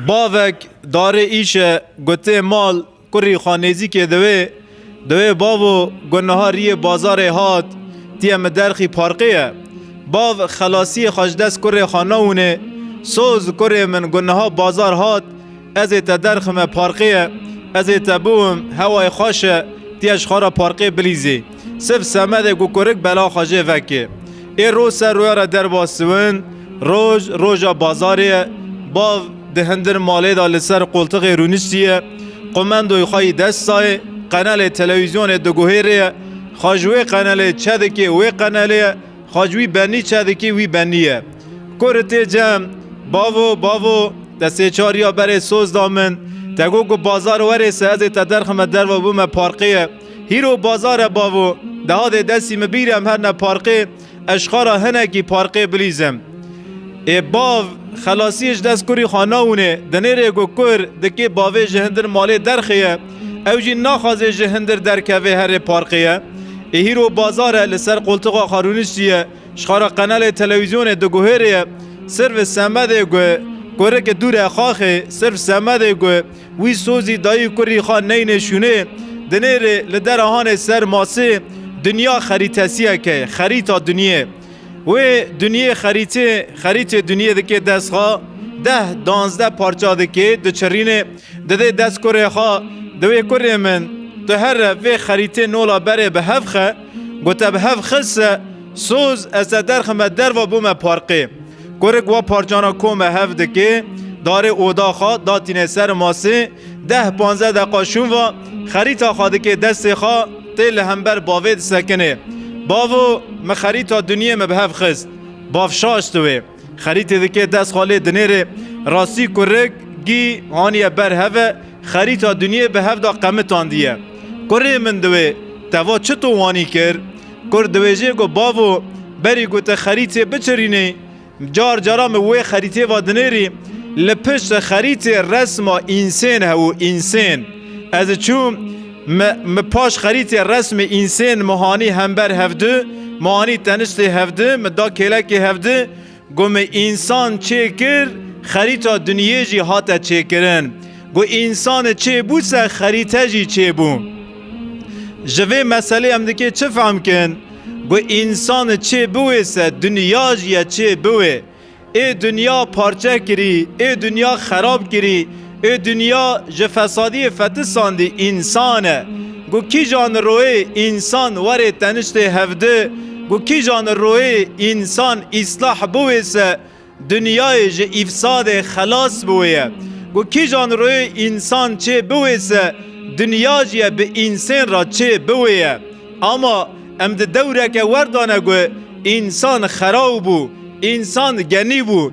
Bavek darê îşe gotê mal kurî xwe nêzîkê diwê, diwê bavo got niha riyê bazarê hat tiye min derxî parkê ye. Bav xelasiyê xwe ji dest kurê xwe nawinê, soz kurê min got niha bazar hat ez ê te derxime parkê ye, ez ê te biwim hewayê xweş e tiye ji xwe re parkê bilîzê. Sif semedê ku kurik bela xwe jê vekê. Ê roj ser roya re derba siwin, roj roja bazarê ye. Bav di hindir malê de li ser qoltiqê rûniştî ye. Qumendoyê xwe yî dest dayê. Qenelê telewîzyonê diguhêrê ye. Xwe ji wê qenelê çe dikê, wê qenelê ye. Xwe ji wî benî çe dikê, wî benî ye. Kurik tê cem, Bavo, bavo, te sê çar ya berê soz da min. Te got ku bazar were se ez ê te derxime derve bime parqê ye. Hîro bazar e bavo. Dehadê desî min bîr e em herne parkê, ez ji xara hinekî parkê bilîz im. Ê bav, xelasiyê ji dest kurî xwe nawine. Di nêrê ku kur dikê bavê ji hindir malê derxeye, ew jî naxwaze ji hindir derkeve herê parkê ye. Ê hîro bazar e, li ser qoltiqa xwe rûniştî ye, ji xara qenelê telewîzyonê diguhêrê ye. Sirf semedê ku kurikê dûr e xaxê, sirf semedê ku Wî sozî dayî kurî xwe neyne şûnê, di nêrê li dera hanê ser masê, dinya xerîtesiyeke ye, xerîta dinyê. Wê dinyê xerîtê, xerîtê dinyê dikê dest xwe, deh, danzdeh parça dikê, diçirînê, didê dest kurê xwe, diwê kurê min, tu here vê xerîtê nola berê bi hev xe, gote bi hev xis se, soz, ez te derxime derva bûme parqê. Kurik wa parçana kome hev dikê, darê oda xwe datîne ser masê, deh panze deqa şûn va xerîta xwe dikê destê xwe tê li hember bavê disekinê. Bavo min xerîta dunyê min bi hev xist. Bav şaşt wê. Xerîtê dikê dest xwe lê dinêrê. Rastî kurik gî haniye ber hev e, xerîta dunyê bi hev da qemitandiye. Kurê min di wê teva çi to wanî kir? Kurd diwêjê ku bavo berî ku te xerîtê biçirînî, car cara min wê xerîtê va dinêrî, li pişt xerîtê resma însên hebû, însên. Ez çûm, min paş xerîtê resmê însên min hanî hember hevdi, min hanî teniştê hevdi, min da kêlekê hevdi, Got me însan çê kir, xerîta dinyê jî hate çêkirin. Got însan e çê bû se xerîte jî çê bû. Ji vê meselê em dikê çi fehm kin? Got însan e çê biwê se dinya jî ye çê biwê. Ê dinya parçe kirî, ê dinya xerab kirî. Ê dinya ji fesadiyê fetisandî însan e. Ku kîjan li royê însan warê teniştê hevdi, ku kîjan li royê însan îslah biwê se dinyayê ji îfsadê xelas biwê ye. Ku kîjan li royê însan çê biwê se dinya jî ye bi însên re çê biwê ye. Ama em di dewreke werdane ku însan xeraw bû, însan genî bû.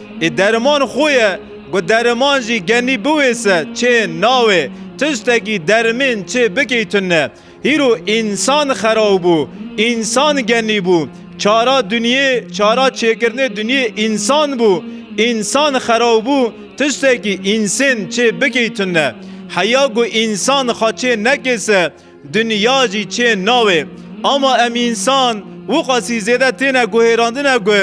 Ê deriman xwe ye ku deriman jî genî biwêse çê nawê. Tiştekî derimên çê bikî tune. Hîro însan xerab bû, însan genî bû. Çara dinyê, çara çêkirinê dinyê însan bû. Însan xerab bû, tiştekî însên çê bikî tune. Heya ku însan xwe çê nekêse. Dinya jî çên navê. Ama em însan wiqasî zêde têne guhêrandine ku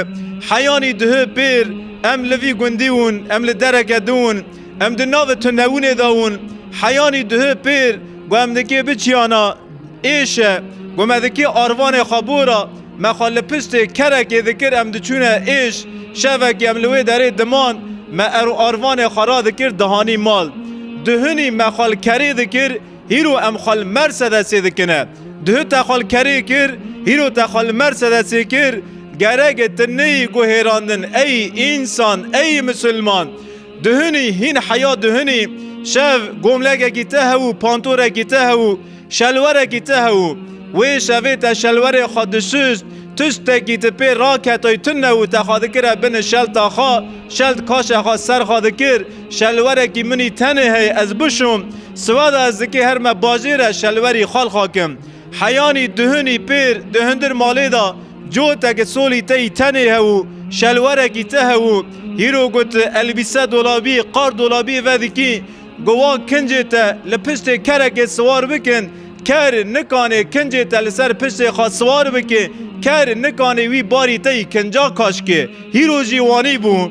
heyanî duhu pêr em li vî gundî wûn, em li dereke din wûn, em di navê tundewûnê de wûn. Heyanî duhu pêr ku em di kê biçiyana êşe, ku me di kê arvanê xwe bora, me xwe li piştê kerekê dikir em diçûne êş, şevekî em li wê derê diman, me erû arvanê xwe radikir dihanî mal. Duhunî me xwe li kerê dikir, Hîro em xwe li Mersedesê dikine. Duh te xwe li kerê kir, hîro te xwe li Mersedesê kir, gerege tu neyî guhêrandin ey însan, ey misilman. Duhunî hîn heya duhunî, şev gomlekekî te hewû, pantorekî te hewû, şelwerekî te hewû. Wê şevê te şelwerê xwe disust, tustekî tu pê raketoy tune û te xwe dikire bin şelta xwe, şelt kaşa xwe ser xwe dikir, Şelwerekî minî tenê hey ez bişom, siwada ez dikê her me bajê re şelwerî xal xakim. Heyanî duhunî pêr di hundir malê da coteki solî teyî tenê hewû, şelwerekî te hewû. Hîro got elbîse dolabî, qar dolabî vedikî. Got wa kincê te li piştê kerekê siwar bikin, ker nikanê kincê te li ser piştê xwe siwar bikê, ker nikanê wî barî teyî kinca kaşkê. Hîro jî wanî bû.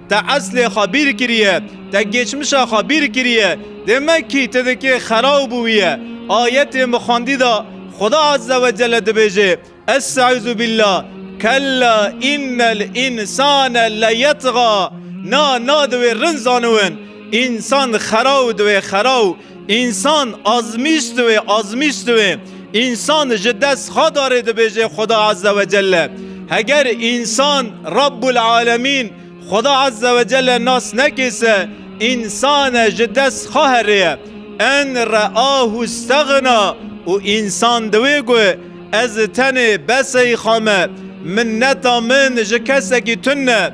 Te eslê xwe bîr kiriye, te geçmişa xwe bîr kiriye, dê me kî ti dikê xera û bûwî ye. Ayetê min xwendî de Xweda Azze ve Celle dibêje, Est'izubîlla, kella înnel însane leyet'ga, na na di wê rind zaniwin, însan xera û di wê xera û Însan azmîşt wê, azmîşt wê. Însan ji dest Xadarê dibêje Xweda Azze ve Celle. Heger însan Rabbul Alemîn, Xweda Azze ve Celle nas nekê se, însan e ji dest Xa herê ye. En re'ahu steghna û însan diwê got, Ez tenê, bes ey Xa me. Minneta min ji kesekî tune.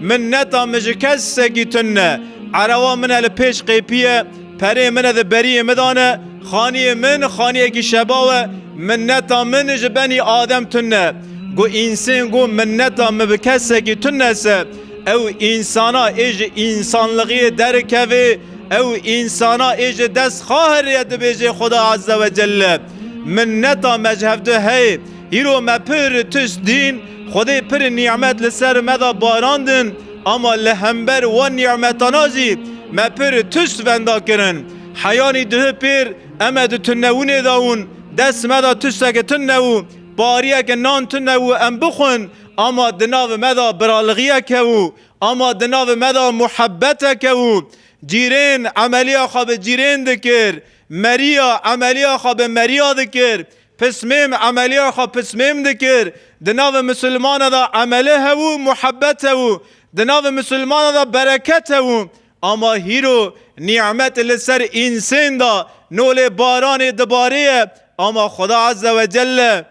Min neta min ji kes sekî tund ne. Erewa min e li pêş qêpiye, perê min e di beriyê min de ne. Xaniyê min xaniyekî şebaw e. Min neta min ji benî adem tund ne. Ku însên got min neta min bi kes sekî tund ne se, ew însana ê ji însanlixiyê derikevê, ew însana ê ji dest xahirê ye dibêjê Xuda Ezzewecelle, Min neta me ji hev du heye. Îro me pir tişt dîn, Xwedê pir nîmet li ser me da barandin, ama li hember wan nîmetana jî me pir tişt venda kirin. Heyanî duh pêr eme di tunewûnê da wûn, dest me da tişteke tun neû, pariyeke nan tun neû em bixwin, ama di nav me da biralixiyek heû, ama di nav me da muhebbetek heû. Cîrên emeliya xwe bi cîrên dikir, meriya emeliya xwe bi meriya dikir, Pismêm, emeliya xwe pismêm dikir. Di navê misilmana de emeli hebû, muhebbet hebû. Di navê misilmana de bereket hebû. Ama hîro, nîmet li ser însên da, no lê baranê dibarîye. Ama Xweda Ezze ve Celle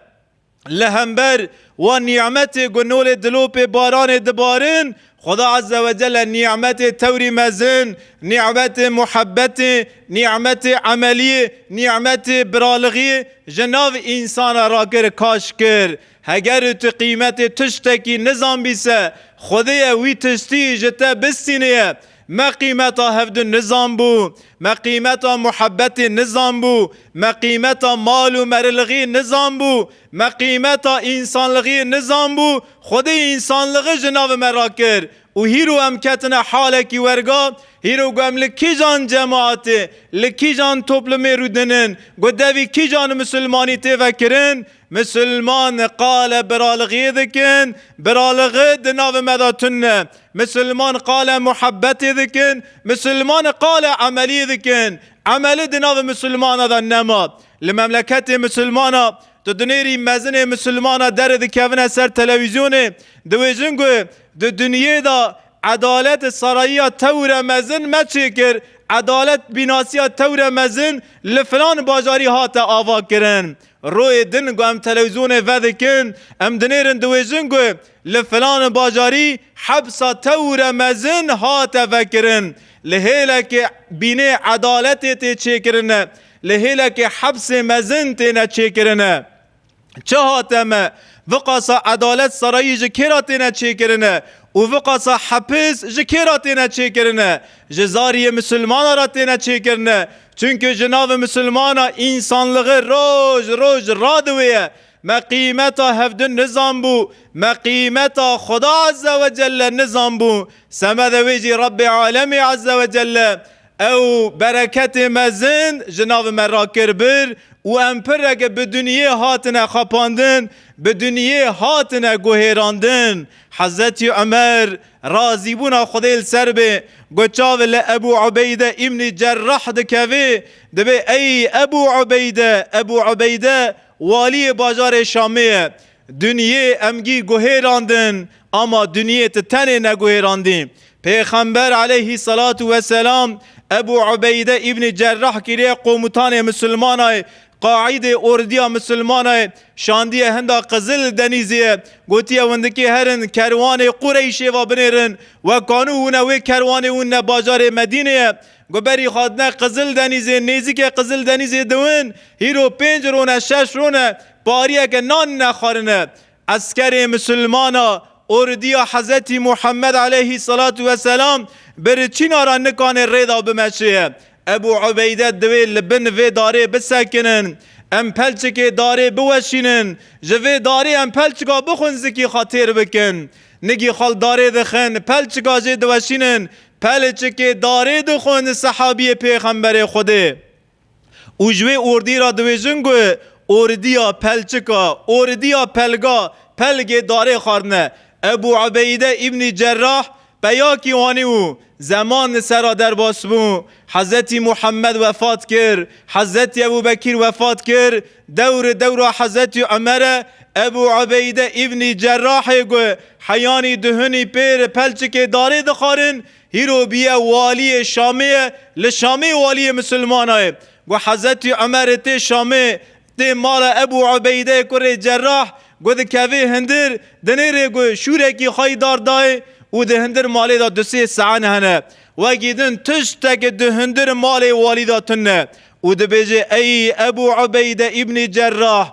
li hember wan nîmetê ku no lê dilopê baranê dibarin, Xuda Azze ve Celle nî'metê tewrî mezin, nî'metê muhebbetê, nî'metê emeliyê, nî'metê biralighiyê ji nav însan re rakir, kaş kir. Heger û tu qîmetê tiştekî nizanbî se, Xwedêye wî tiştî ji te bistînêye. Me qîmeta hevdu nizanbû. Me qîmeta muhebbetê nizanbû. Me qîmeta mal û merilighiyê nizanbû. Me qîmeta însanlixî nizanbû, Xwedê însanlixî ji navê me re kir û hîro em ketine halekî werga, hîro got em li kîjan cemaatê, li kîjan toplumê rûdinin, got devî kîjan misilmanî tê vekirin, misilman qale biralixiyê dikin, biralixi di navê me de tund e, misilman qale muhebetê dikin, misilman qale emeliyê dikin, emeli di navê misilmana de nema. Li memleketê misilmana tu dinêrî mezinê misilmana dere dikevine ser telewîzyonê diwêjin ku di dinyê de edalet sarayiya tewre mezin me çêkir, edalet bînasiya tewre mezin li filan bajarî hate avakirin. Royê din ku em telewîzyonê vedikin em dinêrin diwêjin ku li filan bajarî hepsa tewre mezin hate vekirin. Li hêlekê bînê edaletê tê çêkirin e. Li hêlekê hepsê mezin têne çêkirin e. Çi hate me? Viqasa edalet serayî ji kê ra têne çêkirin e? Û viqasa hepis ji kê ra têne çêkirin e? Ji zariyê misilmanan ra têne çêkirin e. Çunku ji navê misilmana însanligi roj roj radiwêye. Me qîmeta hevdin nizanbû, me qîmeta Xweda Ezzewecelle nizanbû. Semedê wê jî Rebbê Alemî Ezzewecelle Ew bereketê mezin ji navê me re kir bir û em pireke bi duniyê hatine xapandin, bi duniyê hatine guhêrandin. Hezretî Umer, razîbûna Xwedê li ser be, got çavê li Ebû Ubeyde îbnî Cerrah dikeve, divê ey Ebû Ubeyde, Ebû Ubeyde waliyê bajarê Şamê ye, Dunyê emgî guhêrandin ama dunyê ti tenê neguhêrandî. Pêxember aleyhî selatû weselam Ebû Ubeyde Îbnî Cerrah kiriye qomutanê misilmanayê Qaîdê ordiya misilmanayê şandiye hinda Qizil Denîzîye gotiye windikî herin kerwanê Qureyşê va binêrin we kanû wine wê kerwanê win ne bajarê Medînê ye guberî xwe dine Qizil Denîzê nêzîkê Qizil Denîzê diwin hîro pênc rone şeş rone pariyeke nan nexwarine, eskerê misilmana ordiya Hezretî Muhammed aleyhî selatû ve selam bi riçîna re nikanê rê de bimeşiye. Ebû Ubeyde divê li bin vê darê bisekinin, em pelçikê darê biweşînin, ji vê darê em pelçika bixwin zikî xwe têr bikin. Nigî xwe li darê dixin, pelçika jê diweşînin, pelçikê darê dixwin sehabiyê Pêxemberê Xwedê. Û ji wê ordî re dibêjin ku ordiya pelçika, ordiya pelga, pelgê darê xwarine. Ebû Ubeyde Îbnî Cerrah peyakî anî û zeman li ser a derbas bû. Hezretî Muhemmed wefat kir. Hezretî Ebû Bekîr wefat kir. Dewr dewra Hezretî Umere Ebû Ubeyde Îbnî Cerrahê ku heyanî duhunî pêr pelçikê darê dixwarin Hîro bîye waliyê Şamê ye, li Şamê waliyê misilmana ye. Gu Hezetî Umerê tê Şamê, tê mala Ebû Ubeydeyê kurê Cerrah, gu dikevê hindir, di nêrê gu şûrekî xwe yî dar dayê û di hindir malê de du sê sean hene. Wegî din tişteke di hindir malê walî de tune û dibêje Ey Ebû Ubeyde Îbnî Cerrah!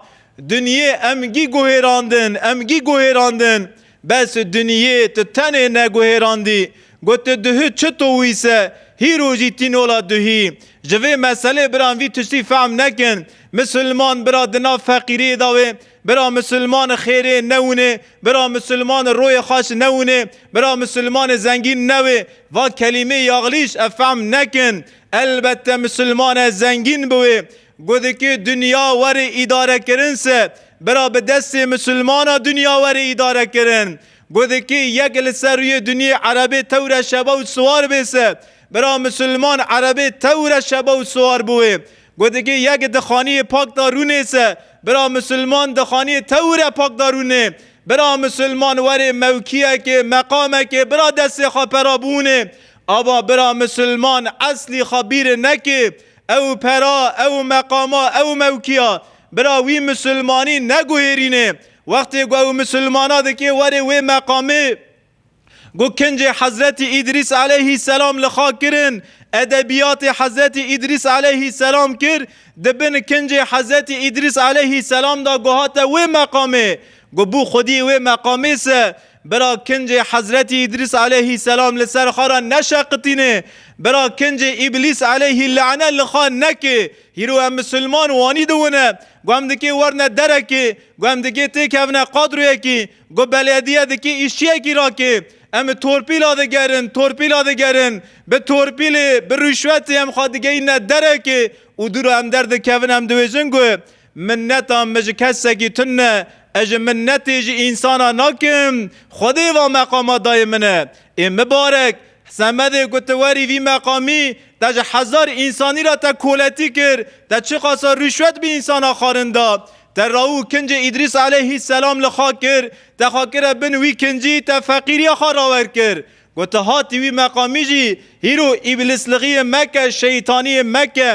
Dinyê em gî guhêrandin, em gî guhêrandin! Bes e Duniyê tu tenê neguhêrandî. Got tu duhî çi to wî se hîro jî tî nola duhî. Ji vê meselê biran vî tiştî fehm nekin. Misilman bira di nav feqîriyê da wê. Bira misilman xêrê ne winê. Bira misilman royê xweş ne winê. Bira misilmanê zengîn ne wê. Va kelîmê yaxlîş ev fehm nekin. Elbette misilmane zengîn bi wê. Got dike dinya were îdarekirin se bira bi destê misilmana dinya were îdarekirin. Got dike yek li ser rûyê dinyê erebê tewre şeba û siwar bê se bira misilman erebê tewre şeba û siwar biwê. Got dike yek di xaniyê pak da rûnê se bira misilman di xaniyê tewre pak da rûnê. Bira misilman were mewkiyekê, meqamekê bira destê xwe pera bûnê. Ava bira misilman eslî xwe bîr neke. Ew pera, ew meqama, ew mewkiya bira wî misilmanî neguhêrîne. Wextê ku ew misilmana dike warê wê meqamê ku kincê Hezretî Îdrîs eleyhî selam li xak kirin, edebiyatê Hezretî Îdrîs eleyhî selam kir, di bin kincê Hezretî Îdrîs eleyhî selam de ku hate wê meqamê, ku bû xwedî wê meqamê se, Bira kincê Hezretî Îdrîs aleyhî selam li ser xwe re neşeqitîne, bira kincê Îblîs aleyhî lane li xwe neke, hîro em misilman wanî diwine, ku em dikê werine derekê, ku em dikê têkevine qadroyekî, ku belediye dikê îşçiyekî rake, em torpîla digerin, torpîla digerin, bi torpîlê, bi rûşwetê em xwe digeyîne derekê û dûra em derdikevin, em dibêjin ku Minneta min ji kesekî tund ne, ez ji minnetê ji însanan nakim, Xwedê va meqama dayê min e. Ê mibarek, Semedê ku tu werî vî meqamî, te ji hezar însanî re te koletî kir, te çiqasa rîşwet bi însanan xwarin da. Te raw û kincê Îdrîs eleyhî selam li xwe kir, te xwe kire bin wî kincî, te feqîriya xwe rawer kir. Gote hatî wî meqamî jî hîro îblisliqiyê meke, şeytaniyê meke,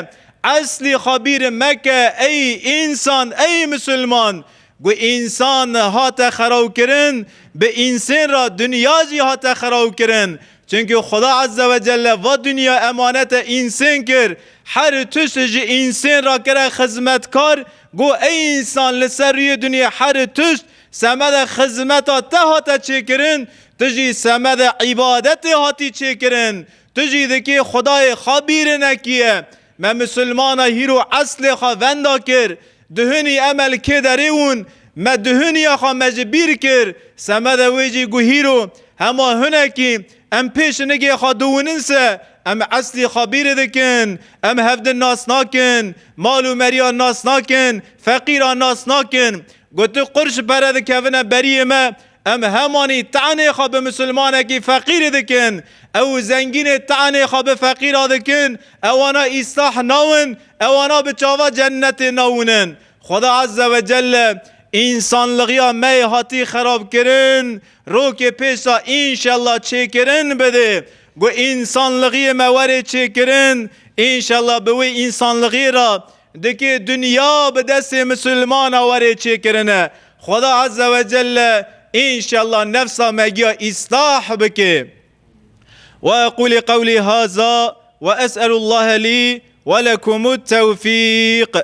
eslî xabîrê meke ey însan ey misilman. Gu însan hate xerawkirin bi însên ra dinya jî hate xerawkirin. Çunki Xuda Eze ve Celle va dinya emanete însên kir, her tişt ji însên ra kire xizmetkar, gu ey însan li ser rûyê dinyê her tişt Semede xizmeta te hate çêkirin, tu jî semede îbadetê hatî çêkirin. Tu jî dikê Xwedayê xwe bîrinekî ye. Me misilmana hîro eslê xwe venda kir. Duhunî emel kê derê wûn, me duhuniya xwe me ji bîr kir. Semede wê jî gu hîro, hema hunekî, em pêşinigê xwe duwunin se, em eslî xwe bîri dikin. Em hevdin nas nakin, mal û meriyan nas nakin, feqîran nas nakin. Ku tu qur ji pere dikevine beriyê me, em hemanî tenê xwe bi misilmanekî feqîrî dikin. Ew û zengînê tenê xwe bi feqîra dikin, ewana îslah nawin, ewana bi çava cennetê nawinin. Xweda Azze ve Celle însanligiya me yê hatî xerabkirin, rokê pêsa înşella çêkirin bidê. Ku însanligiyê me were çêkirin, înşella bi wê însanligiyê re Dikê dinya bi destê misilmana were çêkirine. Xweda Azze ve Celle înşella nefsa me giya îstah bike. Ve eqûlî qewlî haza ve es'elûllahe lî ve lekumut tewfîq.